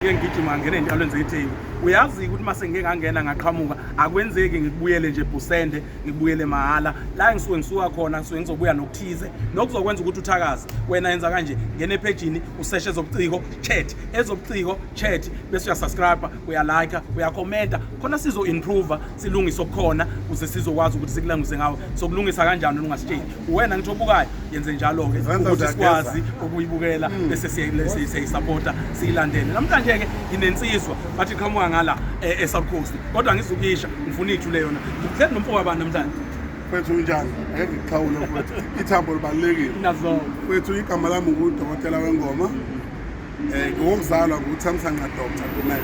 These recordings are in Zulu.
ngike ngigijima ngangena entalweni zetheku uyazi ukuthi uma sengike ngangena ngaqhamuka akwenzeki ngikubuyele nje busende ngikubuyele mahhala la ngisuke ngisuka khona ngisuke ngizobuya nokuthize nokuzokwenza ukuthi uthakaze wena yenza kanje ngena ephejini useshe ezobuciko chat ezobuciko chat bese uyasubscribe uyalike uyakhomenta khona sizo-improva silungise okukhona kuze sizokwazi ukuthi sikulangise ngawo sokulungisa kanjani ungasitsheli uwena ngithi obukayo yenze njalo-ke ukuthi sikwazi ukuyibukela hmm. bese siyayisapota siyilandele namhlanje-ke nginensizwa bathi qhamuka ngala eh, e-south coast kodwa ngizukuyisha ngifuna ithu le yona ngikuhleli nomfoko wabani namhlanje mfethu unjani ake ngikuxhawule mfethu ithambo libalulekile nazo mfethu igama lami ngudokotela wengoma Eh, ngowokuzalwa nguthamsanqa doctor kumele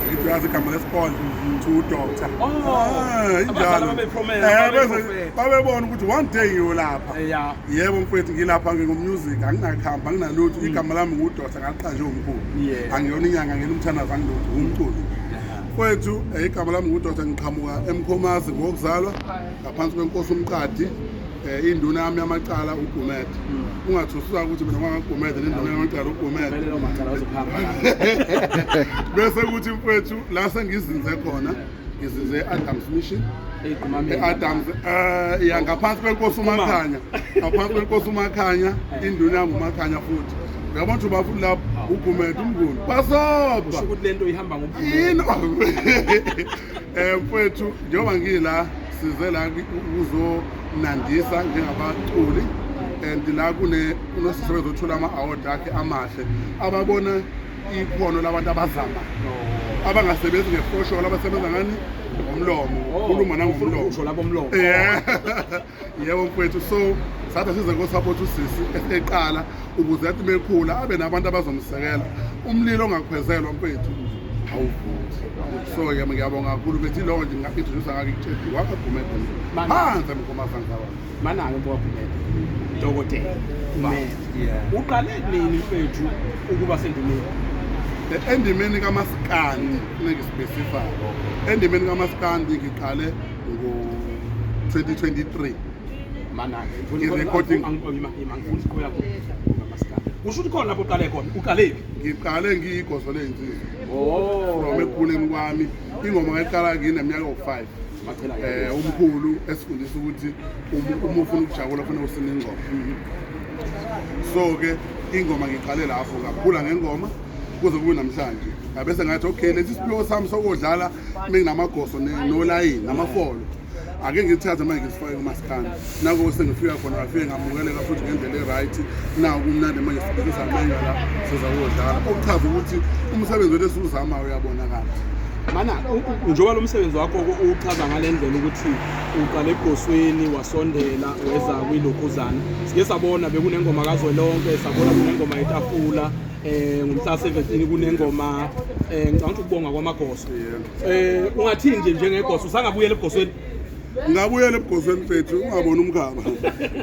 ngithi uyazi igama lesibona to doctor oh, ah, injalo eh, babebona ukuthi one day ngiyolapha eh, yebo mfowethu ngilapha ngingumusic anginakhambi anginalutho mm. igama lami ngudoctor ngaliqanje umkhulu angiyona inyanga ngena umthandazo angilutho ngumculo mfowethu igama lami ngudoctor ngiqhamuka emkhomazi ngokuzalwa ngaphansi kwenkosi umqadi eh, induna yami yamacala ugumed hmm. ungathusuka ukuthi mina ngangagumede nenduna yamacala ugumede bese kuthi mfwethu la sengizinze khona ngizinze e-adams mission e-adams um ya ngaphansi kwenkosi umakhanya ngaphansi kwenkosi umakhanya eh. induna yami umakhanya futhi uyabona ukuthi ubafuni lapho ugumede umnguni basobha yini Eh mfethu njengoba ngila size la ukuzonandisa njengabaculi and la kune kunosisebenzi othola ama-award akhe amahle ababona ikhono labantu abazama abangasebenzi ngefosholo abasebenza ngani ngomlomo oh, khuluma nangomlomo usho labo mlomo yeah yebo mfwethu so sathi size ngosapotha usisi eqala ukuze athi mekhula abe nabantu abazomsekela umlilo ongakhwezelwa mfwethu awuvuthi so ke ngiyabonga kakhulu bethi lowo nje nginga-introduce ngake kutshedi wakagumede phansi emgomasanzawa manake mbowakumede dokotela uqale nini mfethu ukuba sendumeni endimeni kamaskandi nengisiphesifayo endimeni kamaskandi ngiqale ngo-2023 manake i-recording kusho ukuthi khona lapho uqale khona uqale phi ngiqale ngiyigoso ley'nsizwa oh. from ekukhuleni kwami ingoma ngayiqala ngineminyaka owu-five eh umkhulu esifundisa ukuthi uma ufuna ukujabula kufanele usine ingoma so ke ingoma ngiqale lapho ngakhula ngengoma kuze kube namhlanje ngabese ngathi okay lesi siphiwo sami sokodlala benginamagoso nolayini namafolo ake ngithathe manje ngisifake kumasikandi nako sengifika khona ngafike ngamukeleka futhi ngendlela e-right nawo kumnandi manje sibukisa amenya la siza kuyodlala okuchaza ukuthi umsebenzi wethu esiwuzamayo uyabonakala mana njengoba lo msebenzi wakho uwuchaza ngale ndlela ukuthi uqale ebhosweni wasondela weza kwilokhuzana sike sabona bekunengoma kazwelonke sabona kunengoma yetafula eh ngomhla 17 kunengoma eh ngicabanga ukuthi ukubonga kwamagoso eh ungathini nje njengegoso usangabuyela ebugosweni ngabuyela ebugosweni mfethu ungaboni umkhaba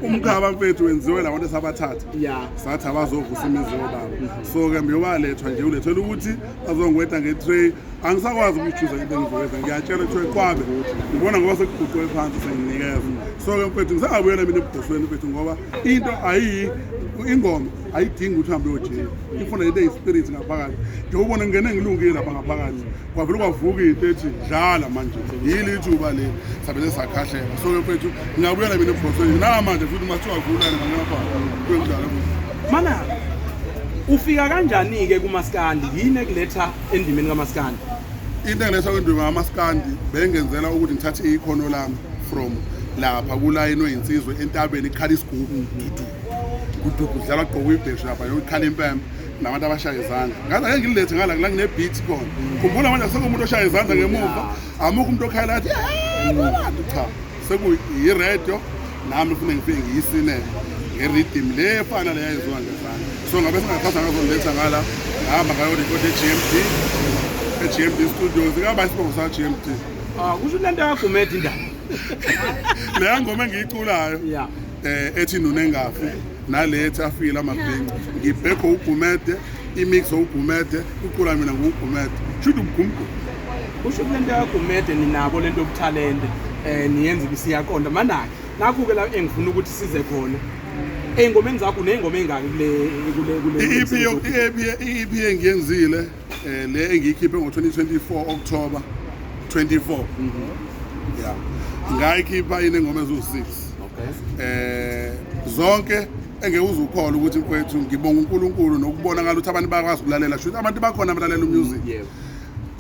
umkhaba mfethu wenziwe labantu esabathatha Yeah. sathi abazovusa imizi yobaba so ke mbeyobalethwa nje ulethela ukuthi azongweta nge-tray angisakwazi ukuyichuza into engizoyenza ngiyatshela kuthiwe kwabe ngibona ngoba sekuguquke phansi senginikeza so ke mfethu ngisangabuyela mina ebugosweni mfethu ngoba into ayiyi ingoma ayidingi ukuthi uhambe uyojika ifuna ibe yispirit ngaphakathi nje ubona ngingene ngilungile lapha ngaphakathi kwavele kwavuka into ethi dlala manje yili ithuba le sabele sakhahlela so mfethu ngingabuyela mina ebhosweni namanje futhi mathiwa vulane ngalapha kuyokudlala mana ufika kanjani-ke kumaskandi yini ekuletha endimeni kamaskandi into engiletha kwendima kamaskandi bengenzela ukuthi ngithathe ikhono lami from lapha kulayinwe insizwe entabeni ikhala isigubu kudugu dlala gqoka ibheshu lapha yokukhala impembe nabantu abashaya izandla ngaze ake ngilethe ngala la nginebeat khona khumbula manje asekho umuntu oshaya izandla ngemuva amukho umuntu okhayela athi abantu cha sekuyi-radio nami fune ngifike ngiyisinele ngeridim le efana le yayenziwa ngezandla so ngabe singathatha ngazongiletha ngala ngihamba ngayorekhoda e-gmd e-gmd studios ingaba isibongo sa-gmd ah, kusho into yakho medi indaba leya ngoma engiyiculayo eh ethi nuna engafi nalethi afile amabhinci ngibhekho ugumede imix ugumede ucula mina ngugumede shuthi ubugumgumede usho kule nto yagumede ninabo le nto yobuthalente um eh, niyenza ibisiyaqonda manake nakhu-ke la engifuna ukuthi size khona ey'ngomeni zakho ney'ngoma ey'ngaki kule iyiphi engiyenzile eh le engiyikhiphe ngo-2024 October 24 yeah ngayikhipha yini ngoma eziwu-6 eh zonke engeke uze ukhole ukuthi mfowethu ngibonga uNkulunkulu nokubonakala ukuthi abantu bakwazi ukulalela shuthi abantu bakhona abalalela umusic yebo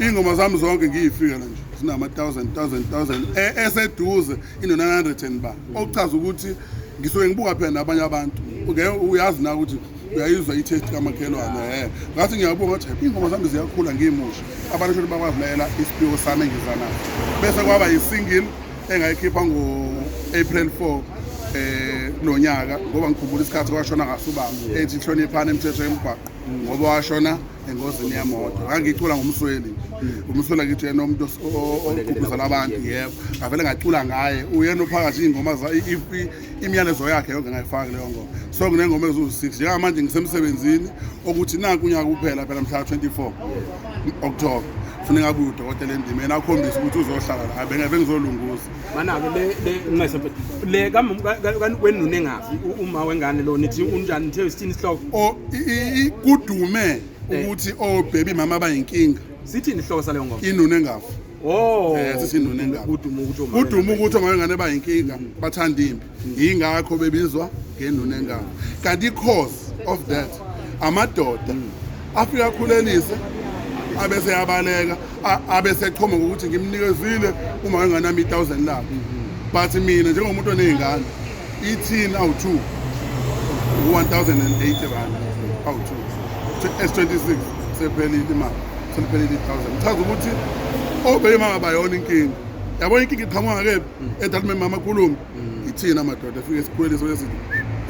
iy'ngoma zami zonke ngiyifika la nje zinama-thousand thousand thousand E- eseduze ino-900 and ba okuchaza ukuthi ngisuke ngibuka phela nabanye abantu Ngeke uyazi na ukuthi uyayizwa i-taste kamakhelwane e eh. ngathi ngiyabonga ukuthi hayi iy'ngoma zami ziyakhula ngimusha abantu shoni bakwazilayela isiphiwo sami engizanaso bese kwaba yi-single engayikhipha ngo-april 4 um eh, nonyaka ngoba ngikhumbula isikhathi kwashona ngaso ubaba ethi hloniphani imithetho yemgwaqo ngoba washona engozini yemoto ngangicula ngomsweli umsweli akithi yena umuntu ogqugquzela abantu yebo ngavele ngacula ngaye uyena ophakathi iy'ngoma imiyalezo yakhe yonke ngayifaki leyo ngoma so nginengoma eziwu-6 njengamanje ngisemsebenzini okuthi naku unyaka kuphela phela mhla 24 october funeka abuye udokotela endimeni akhombise ukuthi uzohlala la bengeve ngizolunguza manake le wenuna engafi uma wengane lo nithi unjani nithe sithini isihloko kudume eh. ukuthi obhebi oh, mama bayinkinga sithini isihloko saleyo ngoma inuna engafi Oh. Eh sesinone ngabo. Kuduma ukuthi omama. Kuduma ukuthi omama ngane bayinkinga bathanda impi. Yingakho bebizwa ngenone ngabo. Kanti cause of that amadoda afika khulelise abese yabaleka abese echoma ukuthi ngimnikezile uma enganami 1000 lakhe. But mina njengomuntu onezingane Ithini awu-2 u-1080 rand awu-2 s26 sephelile imali seliphelile i-1000 ichaza ukuthi obeyimama bayona inkinga yabona inkinga iqhamuka kephi mm. edalimemama amakhulumi mm. ithina madoda efike sikhweliso lezinto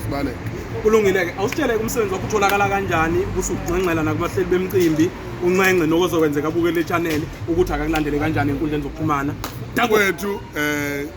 sibaleke kulungile-ke awusitshele umsebenzi wakho utholakala kanjani ukuthi ukunxenxela nakubahleli bemcimbi unxenxe nokozokwenzeka abukele etshaneli ukuthi akakulandele kanjani enkundleni zokuxhumana dakwethu um eh,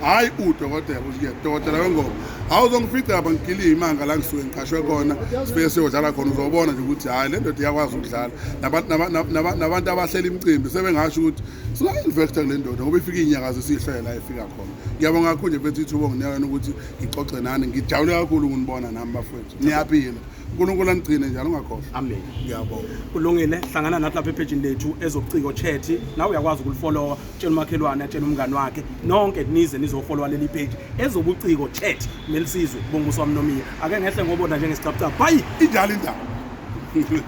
hhayi udokotela uye dokotela wengoma hawu uzongifica lapha ngigiliye imanga la ngisuke ngiqashwe khona sifike siyodlala khona uzobona nje ukuthi hhayi le ndoda iyakwazi ukudlala nabantu abahlela imicimbi sebengasho ukuthi singa-investa kule ndoda ngoba ifike iy'nyakazi siyihlele la efika khona ngiyabonga kakhulu nje mfethu ithubo nginiyakana ukuthi ngixoxe nani ngijabule kakhulu ukunibona nami bafowethu niyaphila unkulunkulu anigcine njalo ungakhohlwa amen ngiyabonga kulungile hlangana nathi lapha ephejini lethu ezobuciko chat nawe uyakwazi ukulifolowa tshela umakhelwane atshela umngane wakhe nonke nize nizofollowa leli page ezobuciko chat nelisizwe bonke uswami nomiya ake ngehle ngobona njengesicapcap hayi injalo indaba